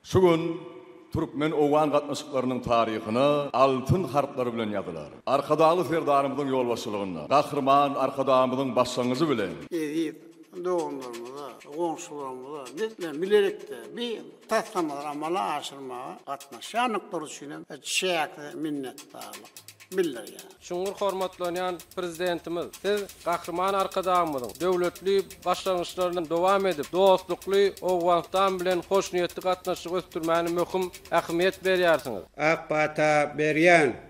Şu gün türkmen-owgan gatnaşyklarynyň taryhyna altyn harplar bilen ýazylar. Arkadagly Serdarymyzyň ýolbaşçylygynda, Gahryman Arkadagymyzyň başlangyjy bilen, Eziz doganlarymyza, goňşularymyza biz bilen bilelikde bi taslamalary amala aşyrmaga gatnaşýandyklary üçin hem çäksiz minnetdarlyk. bildirýär. Çuňňur hormatlanýan Prezidentimiz, Siz Gahryman Arkadagymyzyň döwletli başlangyçlaryny dowam edip, dostlukly Owganystan bilen hoşniýetli gatnaşygy ösdürmäne möhüm ähmiýet berýärsiňiz. Ak pata berýän.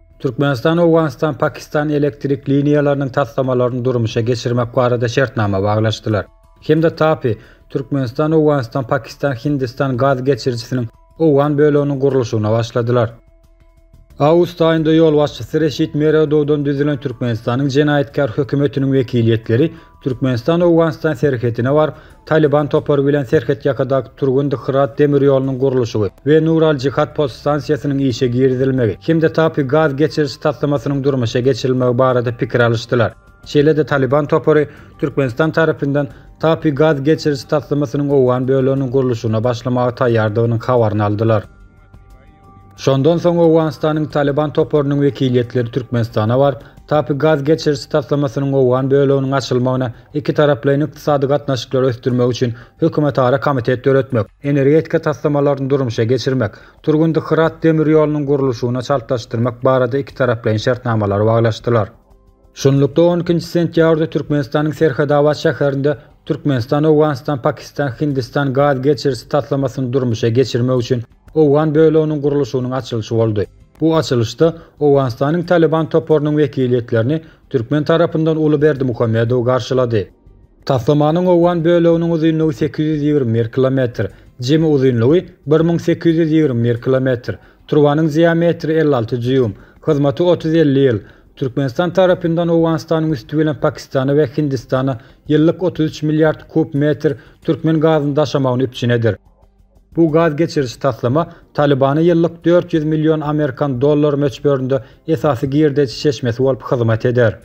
Türkmenistan, Owganystan, Pakistan elektrik liniýalarynyň taslamalaryny durmuşa geçirmek barada şertnama baglaşdylar. Hemza Tapi, Türkmenistan, Owganystan, Pakistan, Hindistan gaz geçirijisiniň owgan böleginiň gurluşygyna başladylar. Awgust aýynda ýolbaşçysy Reşit Meredowdan düzülen Türkmenistanyň jenaýatkär hökümetiniň wekiliýetleri Türkmenistan Owganystan serhetine baryp, Talyban topary bilen serhetýakadaky Turgundy-Hyrat demir ýolunyň gurluşygy we Nur al-Jihad podstansiýasynyň işe girizilmegi hem-de Tapi gaz geçiriş taslamasynyň durmuşa geçirilmegi barada pikir alyşdylar. Şeýle-de Talyban topary Türkmenistan tarapyndan Tapi gaz geçiriş taslamasynyň owgan böleginiň gurluşygyna başlamaga taýýardygynyň habaryny aldylar. Şondan soň Owganystanyň Talyban toparynyň wekiliýetleri Türkmenistana baryp, Tapi gaz geçiriji taslamasynyň owgan böleginiň açylmagyna, ikitaraplaýyn ykdysady gatnaşyklary ösdürmek üçin hökümetara komitet döretmek, energetika taslamalaryny durmuşa geçirmek, Turgundy-Hyrat demir ýolunyň gurluşygyna çaltlaşdyrmak barada ikitaraplaýyn şertnamalary baglaşdylar. Şunlukda, on ikinji sentýabrda Türkmenistanyň Serhetabat şäherinde, Türkmenistan Owganystan-Pakistan-Hindistan gaz geçirisi taslamasyny durmuşa geçirmek üçin owgan böleginiň gurluşygynyň açylyşy boldy. Bu açylyşda Owganystanyň Talyban toparynyň wekiliýetlerini türkmen tarapyndan Uly Berdimuhamedow garşylady. Taslamanyň owgan böleginiň uzynlygy sekiz ýüz ýigrimi bir kilometr, jemi uzynlygy bir müň sekiz ýüz ýigrimi bir kilometr, turbanyň diametri elli alty dýuym, hyzmaty otuz-elli ýyl, Türkmenistan tarapyndan Owganystanyň üsti bilen Pakistana we Hindistana ýyllyk otuz üç milliard kub metr türkmen gazyny daşamagyny üpjün eder. Bu gaz geçiriji taslama Talybana ýyllyk dört ýüz million amerikan dollary möçberinde esasy girdeji çeşmesi bolup hyzmat eder.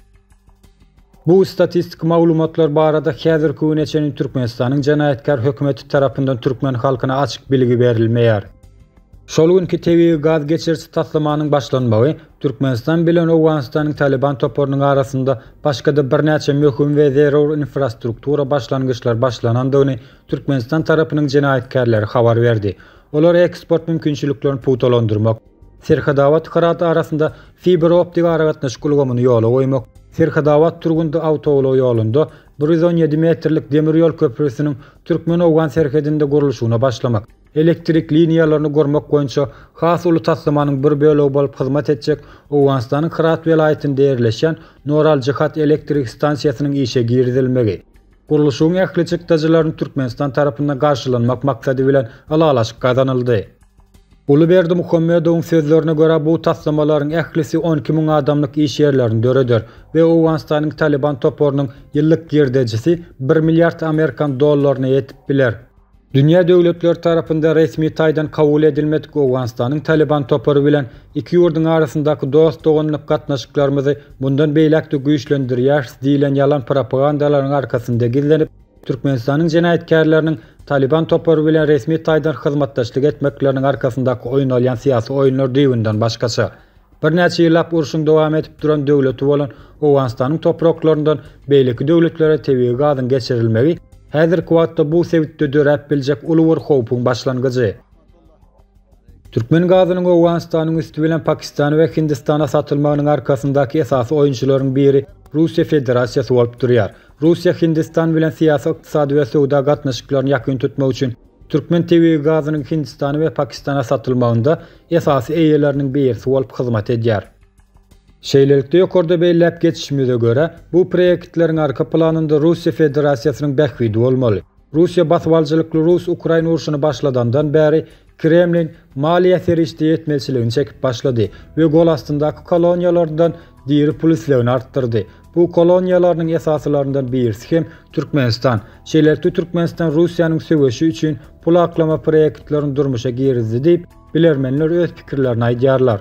Bu statistiki maglumatlar barada häzirki güne çenli Türkmenistanyň jenaýatkär hökümeti tarapyndan türkmen halkyna açyk bilgi berilmeýär. Şol günki tebigy gaz geçiriji taslamanyň başlanmagy Türkmenistan bilen Owganystanyň Talyban toparynyň arasynda başga-da birnäçe möhüm we zerur infrastruktura başlangyçlar başlanandygyny Türkmenistan tarapynyň jenaýatkärleri habar berdi. Olar eksport mümkinçiliklerini pugtalandyrmak, Serhetabat-Hyrat arasynda fiberoptik aragatnaşyk ulgamyny ýola goýmak, Serhetabat-Turgundy awtoulag ýolunda bir ýüz on ýedi metrlik demir ýol köprüsiniň türkmen-owgan serhedinde gurluşygyna başlamak, elektrik liniýalaryny gurmak boýunça has uly taslamanyň bir bölegi bolup hyzmat etjek Owganystanyň Hyrat welaýatynda ýerleşýän Noral-Jihat elektrik stansiýasynyň işe girizilmegi. Gurluşygyň ähli çykdajylaryny Türkmenistan tarapyndan garşylanmak maksady bilen ylalaşyk gazanyldy. Guly Berdimuhamedowyň sözlerine görä, bu taslamalaryň ählisi on iki müň adamlyk iş ýerlerini döreder we Owganystanyň Talyban toparynyň ýyllyk girdejisi bir milliard amerikan dollaryna ýetip biler. Dünýä döwletleri tarapynda resmi taýdan kabul edilmedik Owganystanyň Talyban topary bilen iki ýurduň arasyndaky dost-doganlyk gatnaşyklarymyzy mundan beýläk-de güýçlendirýäris diýlen ýalan propagandalaryň arkasynda gizlenip, Türkmenistanyň jenaýatkärleriniň Talyban topary bilen resmi taýdan hyzmatdaşlyk etmekleriniň arkasyndaky oýnalýan syýasy oýunlar düýbünden başgaça. Birnäçe ýyllap urşuň dowam edip duran döwleti bolan Owganystanyň topraklaryndan beýleki döwletlere tebigy gazyň geçirilmegi häzirki wagtda bu sebitde döräp biljek uly bir howpuň başlangyjy. Türkmen gazynyň Owganystanyň üsti bilen Pakistana we Hindistana satylmagynyň arkasyndaky esasy oýunçylaryň biri Russiýa Federasiýasy bolup durýar. Russiýa Hindistan bilen syýasy, ykdysady we söwda gatnaşyklaryny ýakyn tutmak üçin Türkmen tebigy gazynyň Hindistana we Pakistana satylmagynda esasy eýeleriniň birisi bolup hyzmat edýär. Şeýlelikde, ýokarda belläp geçişimize görä, bu proýektleriň arka planynda Russiýa Federasiýasynyň bähbidi bolmaly. Russiýa basybalyjylykly rus-ukrain urşuny başladandan bäri, Kremliň maliýe serişde ýetmezçiligini çekip başlady we golastyndaky koloniýalaryndan Diri pul islegini artdyrdy. Bu koloniýalarynyň esasylaryndan birisi hem Türkmenistan. Şeýlelikde Türkmenistan Russiýanyň söweşi üçin pul aklama proýektlerini durmuşa girizdi diýip, bilermenler öz pikirlerini aýdýarlar.